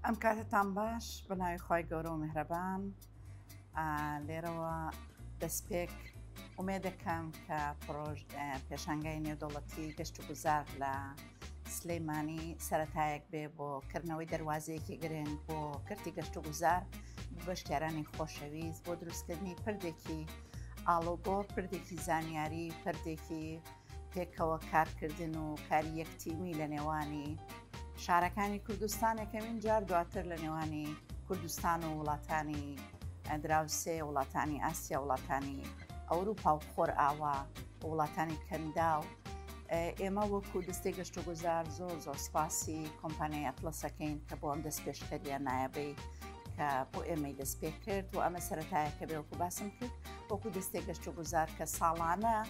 ئەم کاتتان باش بە ناوی خی گەورە و میهرەبان لێرەوە دەستپێک ئومێدەکەم کە پرۆژ پێشانگای نێودەوڵەتی گەشت و گوزار لە سلەیمانی سەتایەک بێ بۆ کردنەوەی دەواازەیەکی گرنگ بۆ کردی گەشت و گوزار بەشکارانی خۆشەویست بۆ دروستکردنی پردێکی ئاڵۆگۆ پردێکی زانیاری پردێکی پێکەوە کارکردن و کاری یەک تیمی لە نێوانی شارەکانی کوردستان یەکەمین جار دواتر لە نێوانی کوردستان و وڵاتانی دراوسێ وڵاتانی ئاسیا وڵاتانی ئەوروپا و خۆر ئاوا وڵاتانی کەندا و ئێمە وەکو دەستێک گەشتە گوزار زۆر زۆر سپاسی کۆمپانیای ئەتلەسەکەین کە بۆ ئەم دەست پێشکەریە نایەبەی کە بۆ ئێمەی دەست پێ کرد و ئەمە سەتایەکە بێ وەکو باسم کرد وەکو دەستێک گەشتە گوزار کە ساڵانە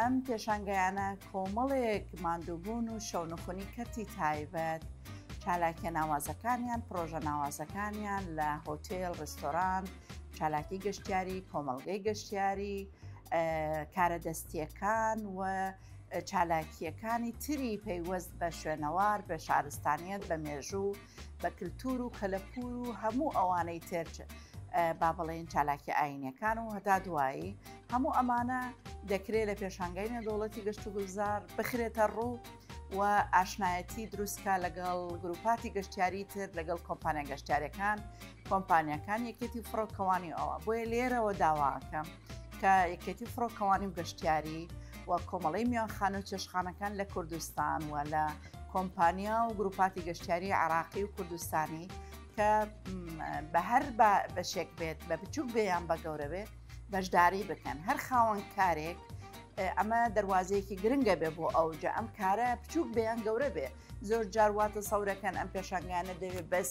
ئەم پێشانگەیانە کۆمەڵێک ماندووبوون و شەونخۆنی کەرتی تایبەت چالاکیە ناوازەکانیان پرۆژە ناوازەکانیان لە هۆتێل ڕستۆران چالاکی گەشتیاری کۆمەلگەی گەشتیاری کارە دەستیەکان و چالاکیەکانی تری پەیوەست بە شوێنەوار بە شارستانیت بە مێژوو بە کللتور و کەلەپور و هەموو ئەوانەی تێرچ با بڵێن چالاکی ئاینەکان و هەتا دوایی هەموو ئەمانە دەکرێت لە پێشانگای نێودەوڵەتی گەشت و گوزار بخرێتە ڕوو و ئاشنایەتی دروستکە لەگەڵ گروپاتی گەشتیاری تر لەگەڵ کۆمپانیا گەشتارەکان کۆمپانیەکان یەکێتی فڕۆکەوانی ئەوە بۆیە لێرەوە داواکەم کە یەکێتی فڕۆکەوانی و گەشتیاری و کۆمەڵی میانخان و چێشخانەکان لە کوردستان و لە کۆمپانیا و گروپاتی گەشتیاری عراقی و کوردستانی کە بە هەر بەشێک بێت بە بچوک بێیان بە گەورەبێت بەشداری بکەن هەر خاوەن کارێک ئەمە دەواازەیەکی گرنگە بێ بۆ ئەوجە ئەم کارە بچووک بیان گەورە بێ زۆر جارواتە سەورەکەن ئەم پێشنگانە دەوێت بەس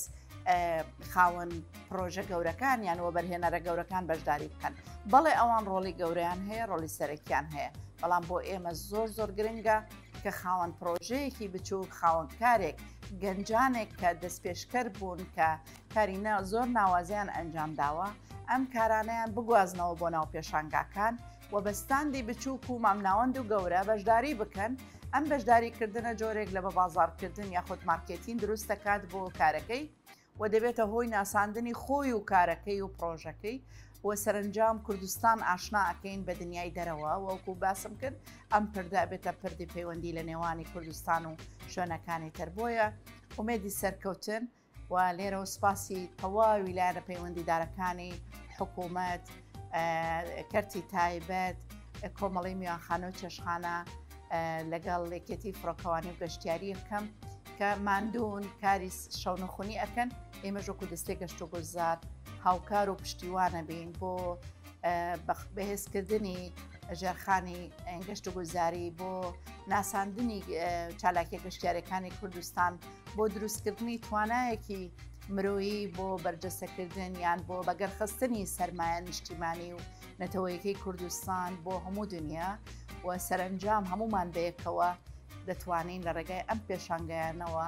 خاوەن پرۆژە گەورەکان یان وەبەرهێنەرە گەورەکان بەشداری بکەن بەڵێ ئەوان ڕۆڵی گەوریان هەیە ڕۆلی سەرەکیان هەیە بەڵام بۆ ئێمە زۆر زۆر گرنگە کە خاوەن پرۆژەیەکی بچوو خاوەنکارێک گەنجانێک کە دەستپێشکەر بوون کە کەرینە زۆر ناوازەیان ئەنجام داوە، ئەم کارانەیان بگوازنەوە بۆ ناو پێشانگاکان و بە ستاندی بچووک و مامناوەند و گەورە بەشداری بکەن، ئەم بەشداری کردنە جۆرێک لە بەبازاڕکردن یاخود مارکێتین دروست دەکات بۆ کارەکەی و دەبێتە هۆی ناساندنی خۆی و کارەکەی و پڕۆژەکەی و سەرنجام کوردستان ئاشنا ئەکەین بە دنیای دەرەوە وەکو باسم کرد ئەم پردا بێتە پردی پەیوەندی لە نێوانی کوردستان و شوێنەکانی تر بۆیە ئومێدی سەرکەوتن و لێرەوە سوپاسی تەواوی لایەنە پەیوەندیدارەکانی حکوومەت کەرتی تایبەت کۆمەڵی میوانخانە و چێشخانە لەگەڵ لێکێتی فڕۆکەوانی و گەشتیاری بکەم کە ماندوون کاری شەونخونی ئەەکەن ئێمە ژۆکو دەستێک گەشت و گوزار هاوکار و پشتیوانە بین بۆ بەهێزکردنی ژێرخانی گەشت و گوزاری بۆ ناساندنی چالاکیە گەشتارەکانی کوردستان بۆ دروستکردنی توانایەکی مرۆیی بۆ بەرجەستەکردن یان بۆ بەگەرخستنی سەرمایە نیشتیمانی و نەتەوەیەکەی کوردستان بۆ هەموو دنیا و سەرنجام هەمومان بەیەکەوە دەتوانین لە ڕێگای ئەم پێشانگایانەوە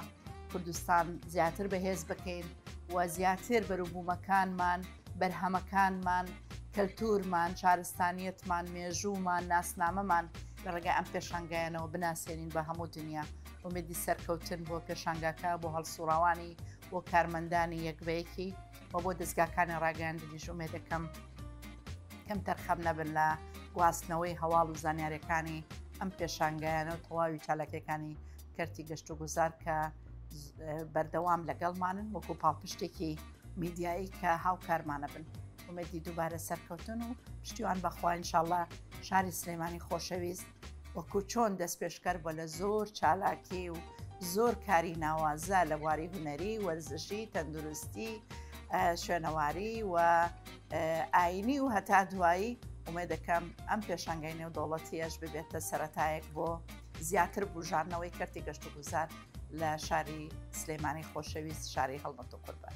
کوردستان زیاتر بەهێز بکەین و زیاتر بەروبوومەکانمان بەرهەمەکانمان کەلتورمان شارستانیتمان مێژوومان ناسنامەمان لە ڕێگای ئەم پێشانگایانەوە بناسیێنین بە هەموو دنیا ئومێدی سەرکەوتن بۆ پێشانگاکە بۆ هەڵسوڕاوانی بۆ کارمەندانی یەکبەیەکی و بۆ دەستگاکانی ڕاگەاندنیش ئومێ دەکەم کەم تەرخەم نەبن لە گواستنەوەی هەواڵ و زانیارەکانی ئەم پێشانگایانە و تەواوی چالاکەکانی کەرتی گەشت و گوزار کە بەردەوام لەگەڵمانن وەکو پاڵپشتێکی میدیایی کە هاوکارمانە بن. ئومێدی دووبارە سەرکەوتن و پشتیوان بەخوا انشاءاللە شاری سلێمانی خۆشەویست وەکو چۆن دەست پێشکەر بۆ لە زۆر چالاکی و زۆر کاری ناوازە لە بواری هوەری وەرزشی تەندروستی شوێنەواری و ئاینی و هەتا دوایی ئومێ دەکەم ئەم پێشنگای نێو دەوڵەتیەش ببێتە سەتایەک بۆ زیاتر بژارنەوەی کەرتی گەشت و گوزار لە شاری سلێمانی خۆشەویست شاری هەڵمەت و قوربان.